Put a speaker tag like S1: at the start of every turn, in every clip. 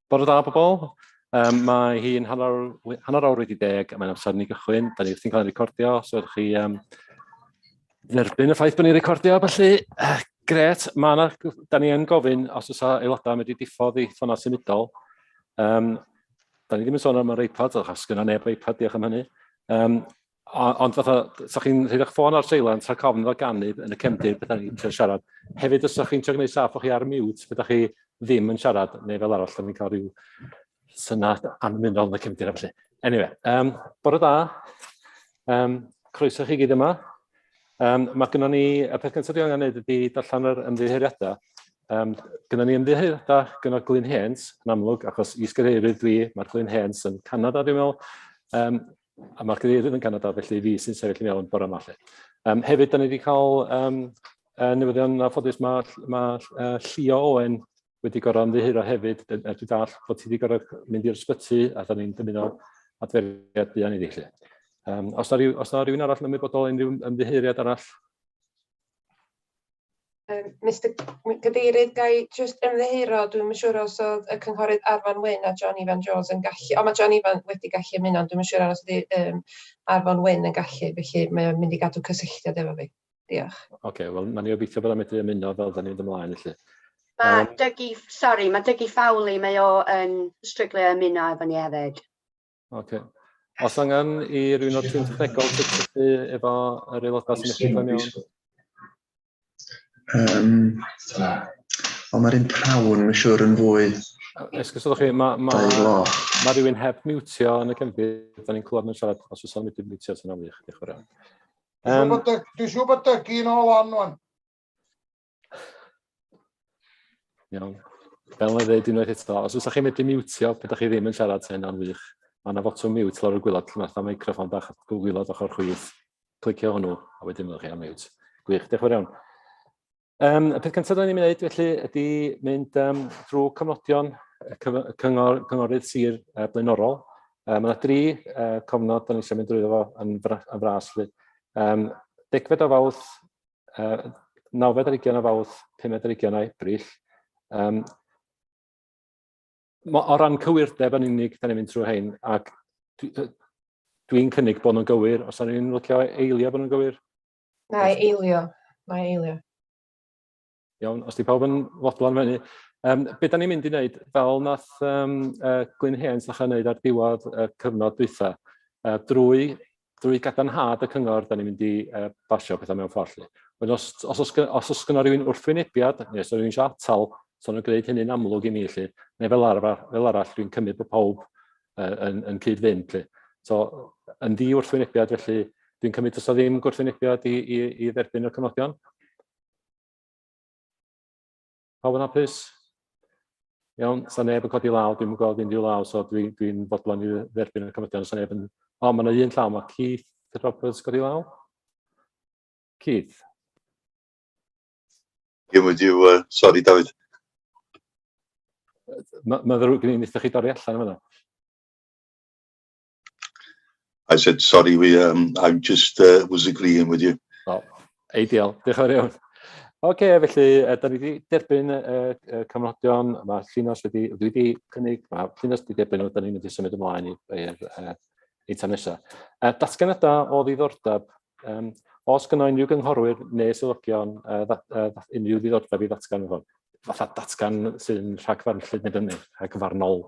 S1: Bod o da bobl, um, mae hi'n hanner, hanner awr wedi deg a mae'n amser ni gychwyn. Da ni wrthi'n cael ei recordio, so ydych chi um, dderbyn y ffaith bod ni'n recordio, felly uh, gret, mae yna, da ni yn gofyn os oes aelodau yn wedi diffodd i ffona symudol. Um, da ni ddim yn sôn am yr iPad, achos gyda neb iPad, diolch am hynny. Um, Ond fatha, sa chi'n rhoi eich ffôn ar silent rhag ofn iddo ganu yn y cefndir beth ni'n trio siarad. Hefyd, os ydych chi'n trio gwneud saff o'ch chi ar mute, beth chi ddim yn siarad, neu fel arall, da ni'n cael rhyw synad anmunol yn y cefndir felly. Anyway, um, bore da. Um, croeso chi gyd yma. Um, mae gynnon ni, y peth gyntaf dwi'n angen gwneud ydy darllen yr ymddiheuriadau. Um, gynnon ni ymddiheuriadau gynno Glyn Hens, yn amlwg, achos i sgyrheirwydd dwi, mae'r Glyn Hens yn Canada, dwi'n meddwl. Um, A mae'r cadeirydd yn Canada, felly fi sy'n sefyll i mewn bore yma. Um, hefyd, da ni wedi cael um, uh, newyddion a ffodus mae ma, uh, Llio Owen wedi gorau ymddiheuro hefyd, er dwi'n dall bod ti wedi gorau mynd i'r sbyty a da ni'n dymuno adferiad buan iddi chi. Um, os na rhywun arall yn ymwybodol unrhyw ymddiheuriad arall?
S2: Yym Mister Cad- Cadeirydd ga i jyst ymddiheuro dwi'm yn siŵr os o'dd y cynghorydd Arfon Wyn a John Ifan Jones yn gallu o ma' John Ifan wedi gallu ymuno ond dwi'm yn siŵr os ydi yym Arfon Wyn yn gallu felly mae o'n mynd i gadw cysylltiad efo fi. Diolch. Ocê wel nawn ni
S1: obeithio bod o'n medru ymuno fel 'dan ni'n mynd ymlaen felly. Ma' Dougie
S3: sori ma' Dougie Fowley mae o yn stryglo i ymuno efo ni hefyd. Ok.
S1: Os angen i rhywun o'r tîm technegol cysylltu efo yr aelodau sy'n eich gwybod mewn. Um,
S4: ond mae'r un prawn, mae'n siŵr, yn fwy... Esgus ydych chi,
S1: mae ma, ma rhywun heb miwtio yn y cefndir, da ni'n clywed mewn siarad, os oes o'n mynd i miwtio, sy'n amlwg, diolch yn fawr. Um, Dwi'n siŵr bod
S5: dygu yn ôl on, wan.
S1: Iawn. Fel yna ddeud unwaith eto, os ydych chi'n medru miwtio, pan ydych chi ddim yn siarad, sy'n hynna'n wych. Mae yna fotwm miwt lawr y gwylod, lle mae'r microfon bach gwylod ochr chwith. Clicio hwnnw, a wedyn fyddwch chi am miwt. Gwych, diolch yn fawr iawn. Um, y peth cyntaf da ni'n mynd felly ydy mynd um, drwy cofnodion y cyngor, cynghorydd sir uh, blaenorol. Uh, mae yna dri uh, cofnod da ni eisiau mynd drwy fo yn, fras. Felly. Um, degfed o fawrth uh, 9.20 o fawrth, 5.20 o Ebrill. Um, o ran cywirdeb yn unig, da ni'n mynd trwy hyn, ac dwi'n dwi cynnig bod nhw'n gywir, os da ni'n lwcio eilio bod nhw'n gywir? Na,
S2: eilio. Mae eilio.
S1: Iawn, os 'di pawb yn fodlon hynny. Um, be da ni'n mynd i wneud, fel nath um, uh, Glyn Hens ddechrau wneud ar diwedd y uh, cyfnod dwytha, uh, drwy, drwy gadarnhad y cyngor, da ni'n mynd i uh, basio pethau mewn ffordd. Ond os, os, os, os, os gynnal rhywun wrthwynebiad, neu os rhywun eisiau atal, so nhw'n gwneud hynny'n amlwg i mi, lle, neu fel arall, fel arall dwi'n cymryd bod pawb uh, yn, yn cyd-fynd. Lle. So, yn ddi wrthwynebiad, felly dwi'n cymryd os o ddim gwrthwynebiad i, i, i dderbyn y cyfnodion. Pawb yn hapus? Iawn, sa neb yn codi law, dwi'n gweld unrhyw law, so dwi'n dwi, dwi fodlon i dderbyn y cymydion, sa neb yn... O, mae yna un llaw, mae Keith Roberts godi law. Keith.
S6: Ie, mae diw, uh, sori David.
S1: Mae'n ddrwg gen i, wnaethoch chi dorri allan yma.
S6: I said, sorry, we, um, I just uh, was agreeing with you. Oh,
S1: ideal, diolch yn fawr iawn. Oce, okay, felly, uh, da ni wedi derbyn y uh, uh, cyfnodion, mae Llinos wedi, dwi wedi cynnig, mae Llinos wedi derbyn, da ni'n mynd i symud ymlaen i'r uh, eitem nesaf. Uh, datganadau o ddiddordeb, um, os gynnau unrhyw gynghorwyr neu sylwygion uh, uh, unrhyw ddiddordeb i ddatgan hwn, fatha datgan sy'n rhagfarn llyd neu fyny, rhagfarnol.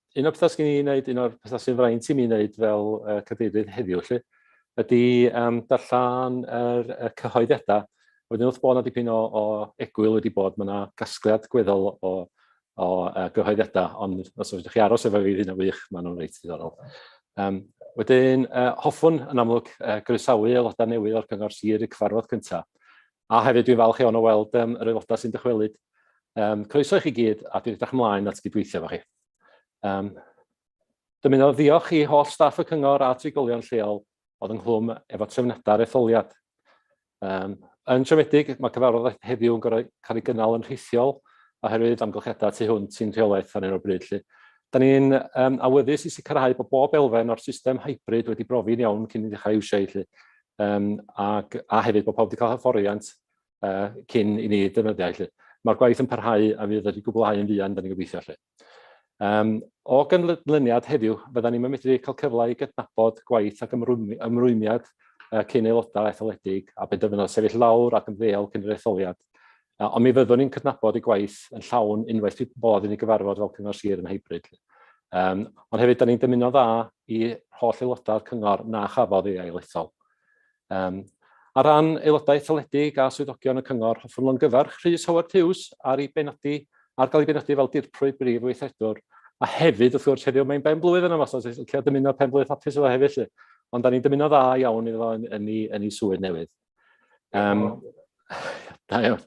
S1: un o'r pethau sy'n ei wneud, un o'r pethau sy'n fraint i mi wneud fel uh, cadeirydd heddiw, lle, ydy um, darllen yr, y cyhoeddiadau. Wedyn wrth bod yna dipyn o, o egwyl wedi bod, mae yna gasgliad gweddol o, o uh, gyhoeddiadau, ond os ydych chi aros efo fi, hyn o wych, maen nhw'n reit ddiddorol. Um, wedyn, uh, hoffwn yn amlwg uh, groesawu aelodau newydd o'r Cyngor Sir i cyfarfod cyntaf. A hefyd dwi'n falch iawn o weld um, yr aelodau sy'n dychwelyd. Um, croeso i chi gyd a dwi'n edrych ymlaen at gydweithio efo chi. Um, Dymuno ddiolch i holl staff y cyngor a trigolion lleol oedd ynghlwm efo trefniadau'r etholiad. Um, yn siomedig, mae cyfarfod heddiw yn cael ei gynnal yn rhithiol oherwydd amgylchiadau tu hwnt sy'n rheolaeth ar un o'r bryd. Lle. Da ni'n um, awyddus i sicrhau bod bob elfen o'r system hybrid wedi brofi'n iawn cyn i ddechrau iwsio ei lle. um, ac, a hefyd bod pawb wedi cael hyfforddiant uh, cyn i ni defnyddiau. Lle. Mae'r gwaith yn parhau a fydd wedi gwblhau yn fuan, da ni'n gobeithio. Lle. Um, o gynlyniad heddiw, fydda ni'n medru cael cyfle i gydnabod gwaith ac ymrwymiad uh, cyn aelodau etholedig a bydd dyfynod sefyll lawr ac yn ddeol cyn yr etholiad. Ond mi fyddwn ni'n cydnabod y gwaith yn llawn unwaith bydd bod yn ei gyfarfod fel Cyngor Sir yn hybrid. Um, ond hefyd, da ni'n dymuno dda i holl aelodau'r cyngor na chafodd ei ailethol. Um, ar ran aelodau etholedig a swyddogion y cyngor, hoffwn lo'n gyfarch Rhys Howard Hughes ar ei benodi ar gael ei benodi fel dirprwy brif weithredwr A hefyd, wrth gwrs, heddiw mae'n ben blwydd yn yma, so lle dymuno pen blwydd hapus efo hefyd. Lly. Ond da ni'n dymuno dda iawn iddo fo yn, yn, yn, yn ei swydd newydd. Um, da iawn.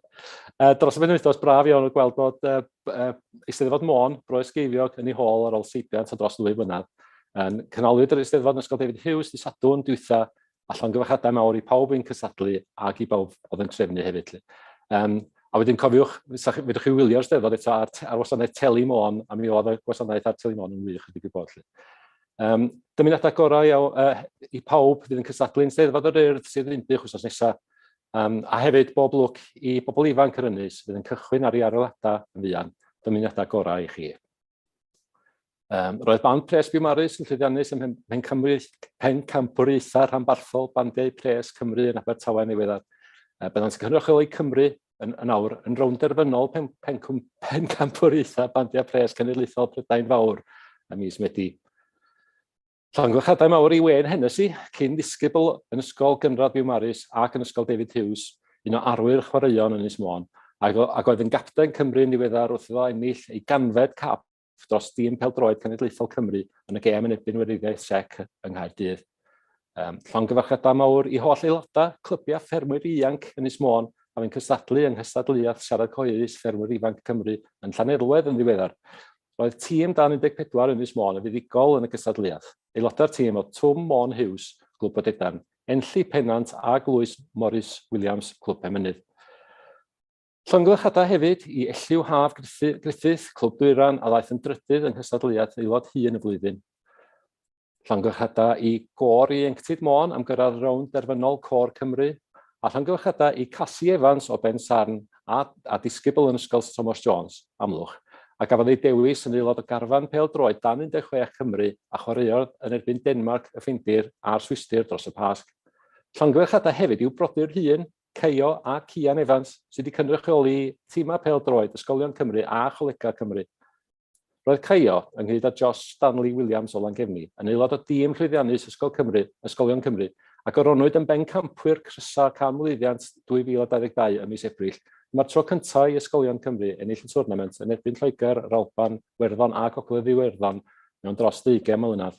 S1: Uh, dros y penwythnos, braf iawn o gweld bod uh, uh, Eisteddfod Môn, Broes Geiriog, yn ei hôl ar ôl seibiant a dros ddwy flynedd. Um, Cynhaliwyd yr Eisteddfod yn Ysgol David Hughes di Sadwn dwytha, a llongyfarchiadau mawr i pawb yn cysadlu ac i bawb oedd yn trefnu hefyd. Um, a wedyn cofiwch, fedrwch chi wylio'r steddfod eto ar, ar wasanaeth Teli Môn, a mi oedd y gwasanaeth ar Teli Môn yn wych ydy gwybod. Um, dymuniadau gorau iawn, uh, i pawb fydd yn cystadlu'n Steddfod yr Urdd sydd yn bych wrthnos nesaf. Um, a hefyd bob lwc i bobl ifanc yr ynys fydd yn cychwyn ar ei arolladau yn fuan. Dymuniadau gorau i chi. Um, roedd band pres Biwmarus yn llwyddiannus ym Mhen Cymru, Pen Campwriaethau rhanbarthol bandiau pres Cymru yn Abertawe yn ddiweddar. Uh, byddant yn cynrychioli Cymru yn, yn awr yn rownd derfynol pen, pen, pen, pen campwriaethau bandiau pres cenedlaethol Prydain Fawr a mis Medi. Llongyfarchiadau mawr i Wen Hennessy, cyn ddisgybl yn Ysgol Gynradd Byw Maris ac yn Ysgol David Hughes, un o arwyr chwaraeon yn Ynys Môn, ac, ac oedd yn gapten Cymru yn ddiweddar wrth iddo ennill ei ganfed cap dros dîm peldroed cenedlaethol Cymru yn y gêm yn erbyn Weriniaeth Sec yng Nghaerdydd. Um, llongyfarchiadau mawr i holl aelodau, clybiau ffermwyr ianc yn Ys Môn a fi'n cystadlu yng nghystadleuaeth siarad coeus ffermwyr ifanc Cymru yn Llanerwedd yn ddiweddar. Roedd tîm dan 14 yn Ys Môn yn fuddugol yn y gystadleuaeth. Aelodau'r tîm o Twm Môn Hughes, Glwb Bodedan, Enlli Pennant a Glwys Morris Williams, Clwb Pemynydd. Llongyfarchiadau hefyd i Elliw Haf Griffith, Clwb Dwyran, a ddaeth yn drydydd yng nghystadleuaeth aelod hŷn y flwyddyn. Llongyfarchiadau i Gôr Ieuenctid Môn am gyrraedd rownd derfynol Côr Cymru, a llongyfarchiadau i Casi Evans o Bensarn a, a disgybl yn Ysgol Sir Tomos Jones, Amlwch, a gafodd ei dewis yn aelod o garfan pêl-droed dan 16 Cymru a chwaraeodd yn erbyn Denmarc, y Ffindir a'r Swistir dros y Pasg. Llongyfarchiadau hefyd i'w brodyr hŷn, Caio a Cian Evans sydd wedi cynrychioli timau pêl-droed Ysgolion Cymru a Cholegau Cymru. Roedd Caio, ynghyd â Josh Stanley Williams o Langefni, yn aelod o dîm llwyddiannus Ysgol Cymru, Ysgolion Cymru, a goronwyd yn bencampwyr crysau Canmlwyddiant 2022 ym mis Ebrill. Dyma'r tro cyntaf i Ysgolion Cymru ennill y twrnament yn erbyn Lloegr, yr Alban, Werddon a Gogledd Iwerddon mewn dros ddeugain mlynedd.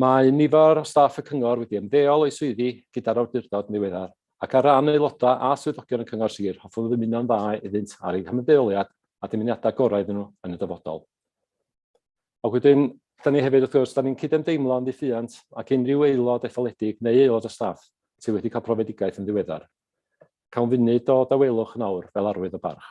S1: Mae nifer o staff y Cyngor wedi ymddeol o'u swyddi gyda'r awdurdod yn ddiweddar, ac ar ran aelodau a swyddogion y Cyngor Sir, hoffwn ddymuno'n dda iddynt ar eu hymddeoliad a dymuniadau gorau iddyn nhw yn y dyfodol. Ac wedyn, da ni hefyd, wrth gwrs, da ni'n cydymdeimlo'n ddiffuant ac unrhyw aelod etholedig neu aelod o staff sydd wedi cael profedigaeth yn ddiweddar. Cawn funud o dawelwch yn awr fel arwydd o barch.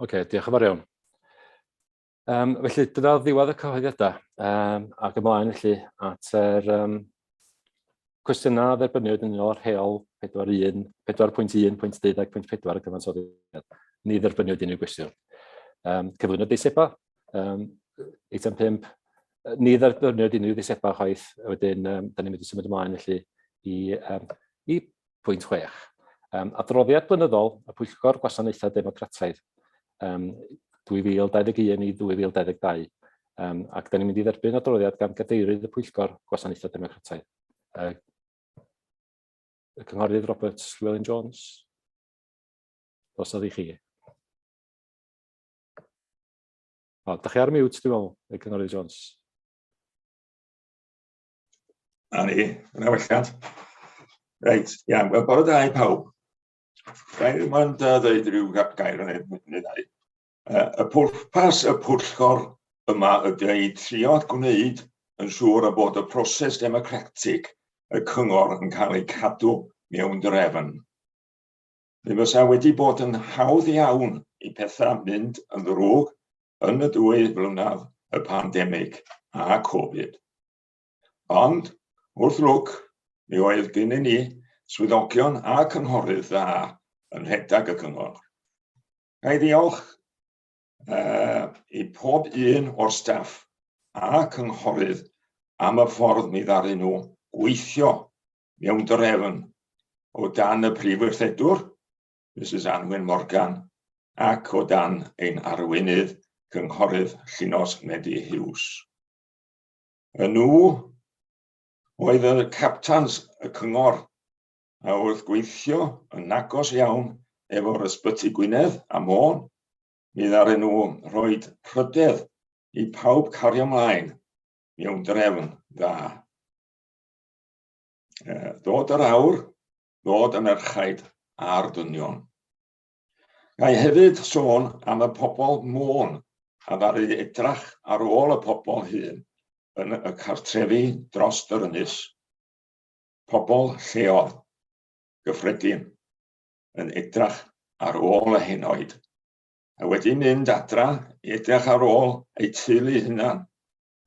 S1: Oce, okay, diolch yn fawr iawn. Um, felly, dyna ddiwedd y cyhoeddiadau um, ac ymlaen felly at yr um, cwestiynau a dderbyniwyd yn unol â'r rheol 4.1.12.4 y cyfansoddiad. Ni dderbyniwyd unrhyw gwestiwn. Um, cyflwyno deisebau, um, eitem 5, ni dderbyniwyd unrhyw ddeisebau chwaith, wedyn um, da ni'n mynd i symud ymlaen felly i, um, i pwynt chwech. Um, adroddiad blynyddol y Pwyllgor Gwasanaethau Democrataidd um, 2021 i 2022. Um, ac da ni'n mynd i dderbyn adroddiad gan gadeirydd y Pwyllgor Gwasanaethau Democrataidd. Uh, y Cynghorydd Robert Llewellyn Jones. Os oedd i chi. O, da chi ar mute, dwi'n meddwl, y Cynghorydd Jones.
S7: A ni, yna welliant. Reit, ia, yeah, bore da i pawb. Gair i mwyn da ddweud rhyw gair yn ei ddau. Y pwrpas y pwllgor yma ydy ei trio gwneud yn siŵr y bod y proses democratic y cyngor yn cael ei cadw mewn drefn. Mi fysa wedi bod yn hawdd iawn i pethau mynd yn ddrwg yn y dwy flynedd y pandemig a Covid. Ond, wrth lwc, mi oedd gennyn ni swyddogion a cynghorydd dda yn rhedeg y cyngor. Ga i ddiolch uh, i pob un o'r staff a cynghorydd am y ffordd mi ddaru nhw gweithio mewn drefn o dan y Prif Weithredwr, Mrs Anwen Morgan, ac o dan ein arweinydd Cynghorydd Llinos Medi Hughes. Y nhw oedd y captans y cyngor a oedd gweithio yn agos iawn efo'r ysbyty Gwynedd a Môn, mi ddaren nhw rhoi rhydedd i pawb cario ymlaen mewn drefn dda. Dod yr awr, dod yn erchaid ar dynion. Gai hefyd sôn am y pobl môn a ddaru edrach ar ôl y pobl hun yn y cartrefi dros yr ynys. Pobl lleol, gyffredin, yn edrach ar ôl y henoed, a wedi mynd adra edrach ar ôl eu teulu hunan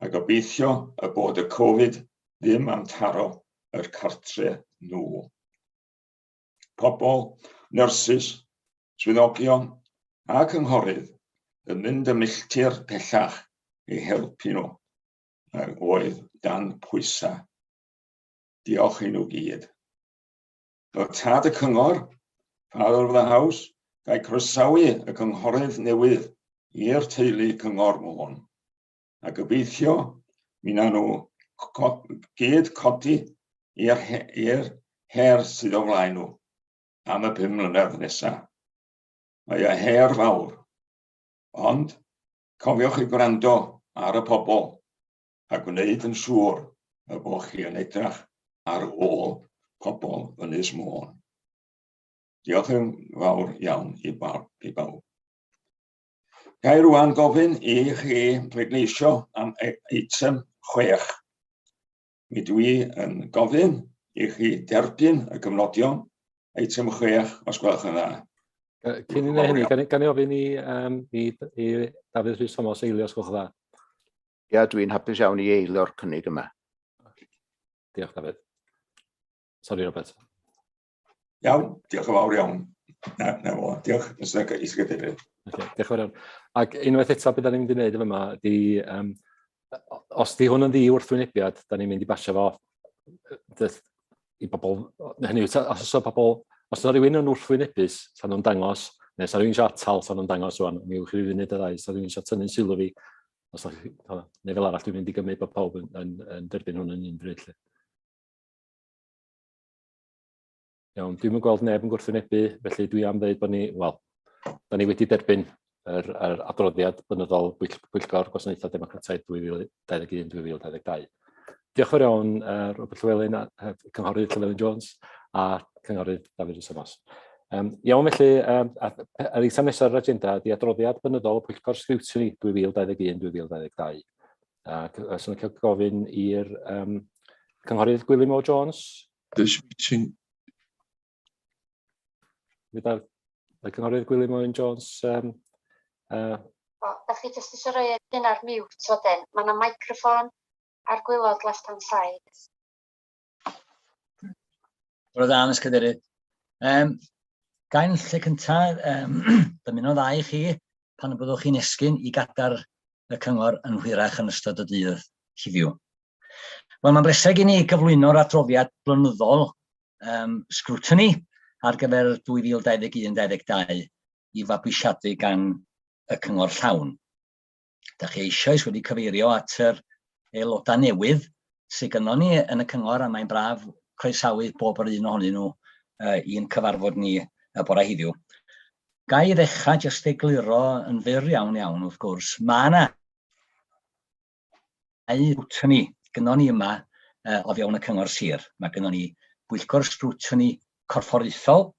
S7: a gobeithio y bod y Covid ddim am taro yr cartre nhw. Pobl, nyrsys, swyddogion a cynghorydd yn mynd y milltir pellach i helpu nhw a oedd dan pwysau. Diolch i nhw gyd. Fel tad y cyngor, Father of the House, gael croesawu y cynghorydd newydd i'r teulu cyngor môn. a gobeithio mi na nhw gyd codi i'r her sydd o flaen nhw am y pum mlynedd nesaf. Mae y her fawr, ond cofiwch i gwrando ar y pobl a gwneud yn siŵr y bod chi yn edrach ar ôl pobl Ynys Môn. Diolch yn fawr iawn i bawb. I bawb. Ga i rwan gofyn i chi bleidleisio am e- eitem chwech? Mi dwi yn gofyn i chi derbyn y gofnodion eitem chwech, os gwelwch yn dda. Yy, Cyn i
S1: ni wneud hynny, gan i- gan i ofyn i, um, i, i Dafydd Rhys Thomas eilio, os gwelwch yn dda. Ia,
S8: dwi'n hapus iawn i eilio'r cynnig yma.
S1: Diolch, Dafydd. Sori, Robert.
S7: Iawn, diolch yn fawr iawn. Na, na fo, diolch, nes yna gais i gadeirio. Okay, diolch yn fawr iawn.
S1: Ac unwaith eto beth da ni'n mynd i wneud yma, di, um, os di hwn yn ddi wrthwynebiad, da ni'n mynd i basio fo dyth, i bobl, hynny yw, os oes pobl, os yna rhywun yn wrthwynebus, sa'n nhw'n dangos, neu sa'n rhywun eisiau atal, sa'n nhw'n dangos rwan, mi yw'ch rhywun wneud y ddau, sa'n rhywun eisiau tynnu'n sylw fi, os da chi, neu fel arall, dwi'n mynd i gymryd bod pawb yn, yn, yn derbyn hwn yn un bryd. Iawn, dwi'm yn gweld neb yn gwrthwynebu, felly dwi am ddeud bod ni, wel, da ni wedi derbyn yr, yr adroddiad bynyddol bwyll, Bwyllgor Gwasanaethau Democrataidd 2021-2022. Diolch fawr iawn, uh, Robert Llewelyn, uh, Cynghorydd Llewelyn Jones a Cynghorydd David Rhysymos. Um, iawn felly, um, yr eitem nesaf ar yr agenda ydy adroddiad bynyddol y Pwyllgor Sgriwtini 2021-2022. A os yn cael gofyn i'r um, Cynghorydd Gwilym O Jones. This meeting. Gyda y Cynghorydd Gwilym O Jones. Um, uh, o,
S3: da chi jyst eisiau rhoi hyn ar mute wedyn. Mae yna microffon ar gwylod left hand side.
S9: Roedd dda, Miss Cadeirydd. Um, gael lle cyntaf um, dymuno dda i chi pan y byddwch chi'n esgyn i gadar y cyngor yn hwyrach yn ystod y dydd heddiw. Wel, mae'n breseg i ni gyflwyno'r adroddiad blynyddol um, scrutiny ar gyfer 2021-22 i fabwysiadu gan y cyngor llawn. Da chi eisoes wedi cyfeirio at yr aelodau newydd sydd gynnon ni yn y cyngor a mae'n braf croesawu bob yr un ohonyn nhw uh, i'n cyfarfod ni y bore heddiw. Ga i ddechrau jyst egluro yn fyr iawn iawn wrth gwrs, mae yna ei scrutiny gynnon ni yma uh, o fewn y cyngor sir. Mae gynnon ni bwyllgor scrutiny corfforaethol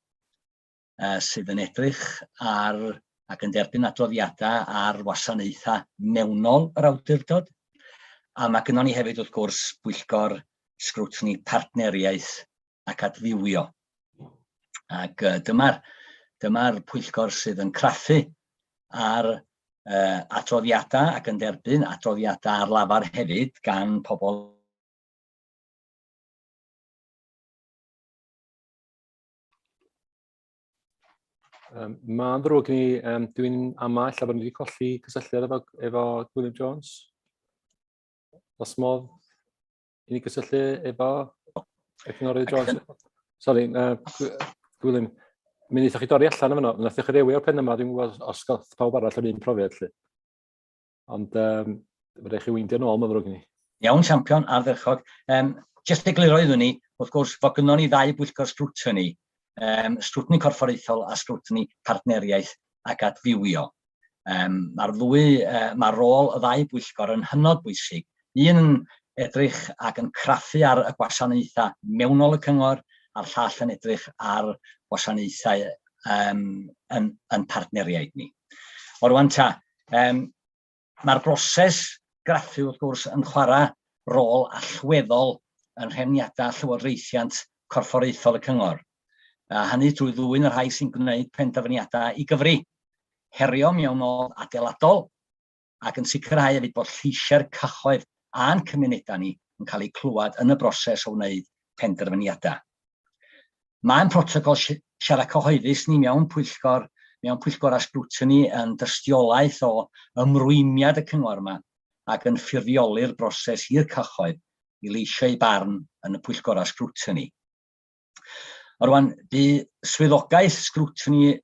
S9: uh, sydd yn edrych ar ac yn derbyn adroddiadau ar wasanaethau mewnol yr awdurdod. A mae gennym ni hefyd, wrth gwrs, bwyllgor sgrwtni partneriaeth ac adfywio. Ac uh, dyma'r dyma pwyllgor sydd yn craffu ar uh, adroddiadau ac yn derbyn adroddiadau ar lafar hefyd gan pobl
S1: Um, Mae'n ddrwg i ni, um, dwi'n ama illa bod ni wedi colli cysylltiad efo, efo Gwilym Jones. Os modd i ni gysylltu efo y cynghorydd Jones. Sorry, uh, Gwilym, mi wnaethoch chi dorri allan yma, wnaethoch chi rewio'r pen yma, dwi'n gwybod os gael pawb arall yr un profiad lle. Ond um, fydde chi weindio nôl, mae'n ddrwg i ni. Iawn, champion,
S9: ardderchog. Um, just egluro iddyn ni, wrth gwrs, fod gynnon ni ddau bwyllgor scrutiny, um, scrutiny corfforaethol a scrutiny partneriaeth ac adfywio. Um, Mae'r ddwy, uh, mae rôl y ddau bwyllgor yn hynod bwysig. Un yn edrych ac yn craffu ar y gwasanaethau mewnol y cyngor, a'r llall yn edrych ar gwasanaethau um, yn, yn partneriaid ni. O'r wan ta, Um, Mae'r broses graffu, wrth gwrs, yn chwarae rôl allweddol yn rhefniadau llywodraethiant corfforaethol y cyngor, a hynny drwy ddwyn y rhai sy'n gwneud penderfyniadau i gyfri, herio mewnol adeiladol, ac yn sicrhau hefyd bod lleisiau'r cyhoedd a'n cymunedau ni yn cael eu clywed yn y broses o wneud penderfyniadau. Mae'n protocol siarad cyhoeddus ni mewn pwyllgor, mewn pwyllgorau sgrwtini yn dystiolaeth o ymrwymiad y Cyngor yma ac yn ffurfioli'r broses i'r cyhoedd i leisio eu barn yn y pwyllgorau sgrwtini. Rwan, bu swyddogaeth sgrwtini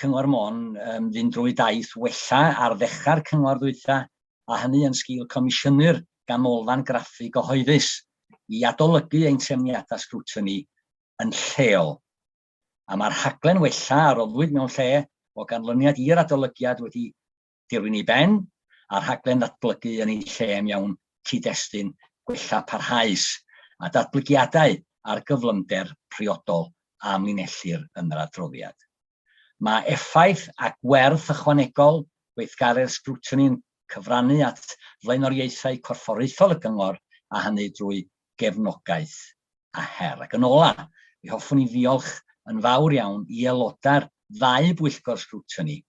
S9: Cyngor Môn yn fynd drwy daith wella ar ddechrau'r cyngor ddwytha, a hynny yn sgil comisiynu'r ganolfan graffu gyhoeddus i adolygu ein trefniadau sgrwtini yn lleol. A mae'r rhaglen wella a roddwyd mewn lle o ganlyniad i'r adolygiad wedi dirwyn i ben, a rhaglen ddatblygu yn ei lle am iawn cyd-destun gwella parhaus, a datblygiadau ar gyflymder priodol a amlinellir yn yr adroddiad. Mae effaith a gwerth ychwanegol gweithgaredd sgrwtini yn cyfrannu at flaenoriaethau corfforaethol y Cyngor, a hynny drwy gefnogaeth a her. Ac yn ola, mi hoffwn i ddiolch yn fawr iawn i aelodau'r ddau bwyllgor sgrwtini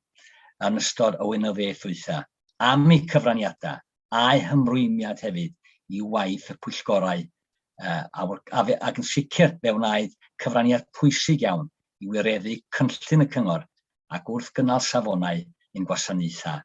S9: yn ystod y wynyddiaeth ddwytha am eu cyfraniadau a'u hymrwymiad hefyd i waith y pwyllgorau ac yn sicr fe wnaed cyfraniad pwysig iawn i wireddu cynllun y Cyngor ac wrth gynnal safonau ein gwasanaethau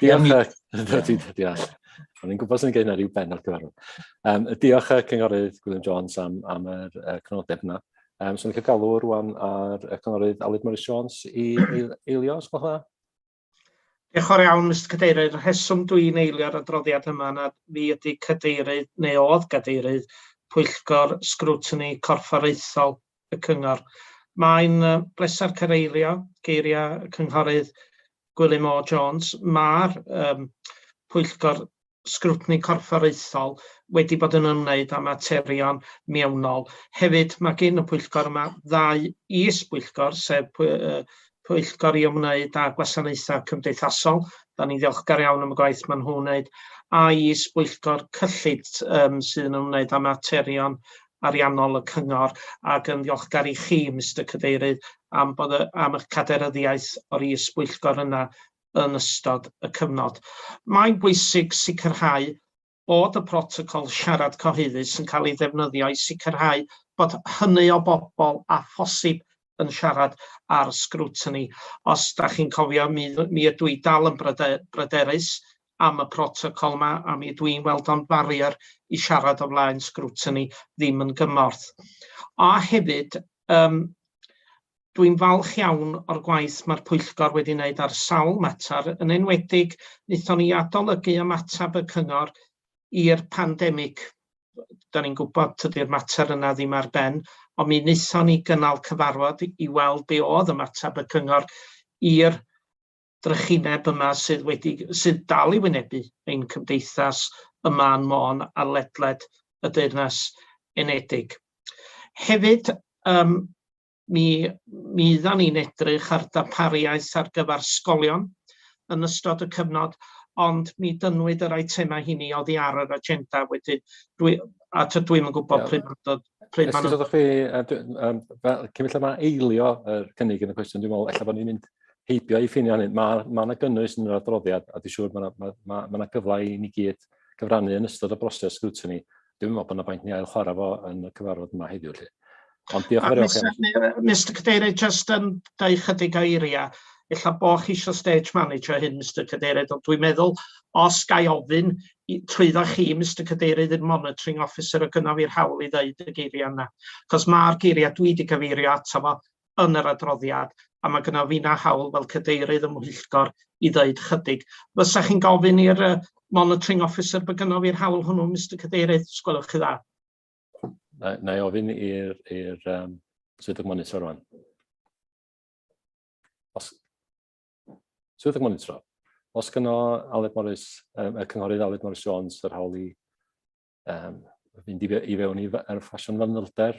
S1: Diolch, Dodi, diolch. O'n i'n gwybod sy'n gwneud yna rhyw ben ar gyfer hwn. Um, diolch y cynghorydd Gwilym Jones am, am yr uh, cynodeb yna. Um, so ni'n cael galw rwan ar y cynghorydd Aled Morris Jones i eilio, os gwelwch dda?
S10: Diolch o'r iawn, Mr Cadeirydd. Rheswm dwi'n eilio'r adroddiad yma na fi ydy cadeirydd, neu oedd gadeirydd, pwyllgor sgrwtini corfforaethol y Cyngor. Mae'n bleser cyfeirio geiriau y Cynghorydd Gwilym O Jones. Mae'r um, pwyllgor sgrwtni corfforaethol wedi bod yn ymwneud â materion mewnol. Hefyd, mae gen y pwyllgor yma ddau is-bwyllgor, sef pwyllgor i ymwneud â gwasanaethau cymdeithasol. Da ni'n ddiolchgar iawn am y gwaith maen nhw'n wneud. A is bwyllgor cyllid um, sydd yn ymwneud â materion ariannol y cyngor ac yn ddiolchgar i chi, Mr Cadeirydd, am, bod y, am eich cadeiryddiaeth o'r is bwyllgor yna yn ystod y cyfnod. Mae'n bwysig sicrhau bod y protocol siarad cyhoeddus yn cael ei ddefnyddio i sicrhau bod hynny o bobl â phosib yn siarad ar scrutiny. Os da chi'n cofio, mi, mi ydw i dal yn bryderus am y protocol yma, a mi ydw i'n weld o'n barrier i siarad o flaen scrutiny ddim yn gymorth. A hefyd, um, Dwi'n falch iawn o'r gwaith mae'r pwyllgor wedi wneud ar sawl mater, yn enwedig wnaethon ni adolygu ymateb y cyngor i'r pandemig. Da ni'n gwybod tydi'r mater yna ddim ar ben, ond mi wnaethon ni gynnal cyfarfod i weld be oedd ymateb y cyngor i'r drychineb yma sydd wedi sydd dal i wynebu ein cymdeithas ym Mân Môn a ledled y Deyrnas Unedig. Hefyd, um, mi fyddan ni'n edrych ar darpariaeth ar gyfer sgolion yn ystod y cyfnod, ond mi dynnwyd yr eitemau hynny oddi ar yr agenda wedyn. Dwi, a ta dwi'm yn gwybod pryd mae'n dod. Pryd mae'n dod. chi,
S1: cyn felly mae eilio yr cynnig yn y cwestiwn, dwi'n meddwl, efallai bod ni'n mynd heibio i ffinio hynny. Mae yna ma gynnwys yn yr adroddiad, a dwi'n siŵr mae yna ma, ma, ma gyfle i ni gyd gyfrannu yn ystod y broses sgrwtini dwi'n meddwl bod yna bwynt ni ail chwarae fo yn y cyfarfod yma heddiw lly. Ond diolch yn fawr iawn. Mr Cadeirydd, just
S10: yn dau chydig o eiriau, illa bo chi eisiau stage manager hyn, Mr Cadeirydd, ond dwi'n meddwl os gai ofyn trwyddo chi, Mr Cadeirydd, i'r monitoring officer o gynnaf i'r hawl i ddeud y geiriau yna. Cos mae'r geiriau dwi wedi cyfeirio ato fo yn yr adroddiad, a mae gyda fi na hawl fel cadeirydd y mhwyllgor i ddeud chydig. Fysa chi'n gofyn i'r uh, monitoring officer bod gyda fi'r hawl hwnnw, Mr Cadeirydd, os gwelwch chi dda? Na,
S1: na i ofyn i'r um, swyddog monitor rwan. Os, swyddog monitor, os gyda Aled Morris, um, y cynghorydd Aled Morris Jones, yr hawl i um, fynd i, fe, i fewn i'r ffasiwn fanylder,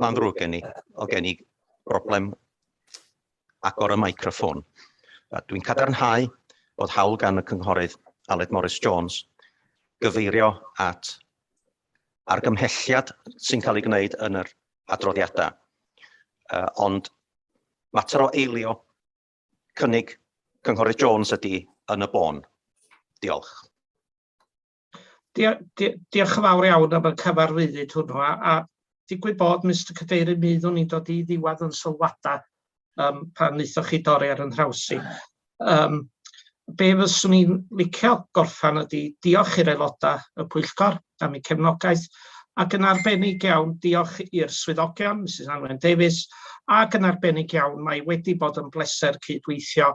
S11: Mae'n ddrwg gen i, o gen i broblem agor y microffon. Dwi'n cadarnhau bod hawl gan y cynghorydd Aled Morris Jones gyfeirio at argymhelliad sy'n cael ei gwneud yn yr adroddiadau. Uh, ond mater o eilio cynnig cynghorydd Jones ydy yn y bôn. Diolch. Dia,
S10: dia, diolch yn fawr iawn am y cyfarwyddyd hwnnw a, a digwydd bod Mr Cadeirydd mi fyddwn ni'n dod i ddiwedd yn sylwadau um, pan wnaethoch chi dorri ar yn nhrawsi. Um, be fyswn i'n licio gorffan ydy diolch i'r aelodau y pwyllgor am eu cefnogaeth ac yn arbennig iawn diolch i'r swyddogion, Mrs Anwen Davies, ac yn arbennig iawn mae wedi bod yn bleser cydweithio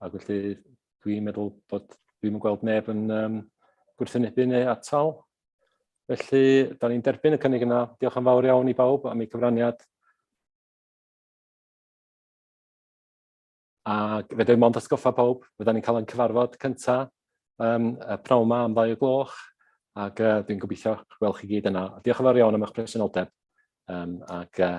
S1: Ac felly dwi'n meddwl bod dwi'n yn gweld neb yn um, gwrthwynebu neu atal. Felly, da ni'n derbyn y cynnig yna. Diolch yn fawr iawn i bawb am ei cyfraniad. A fe mond ysgoffa pawb, fydda ni'n cael ein cyfarfod cyntaf um, y prawn yma am ddau o gloch, ac uh, dwi'n gobeithio gweld chi gyd yna. Diolch yn fawr iawn am eich presenoldeb, um, ac uh,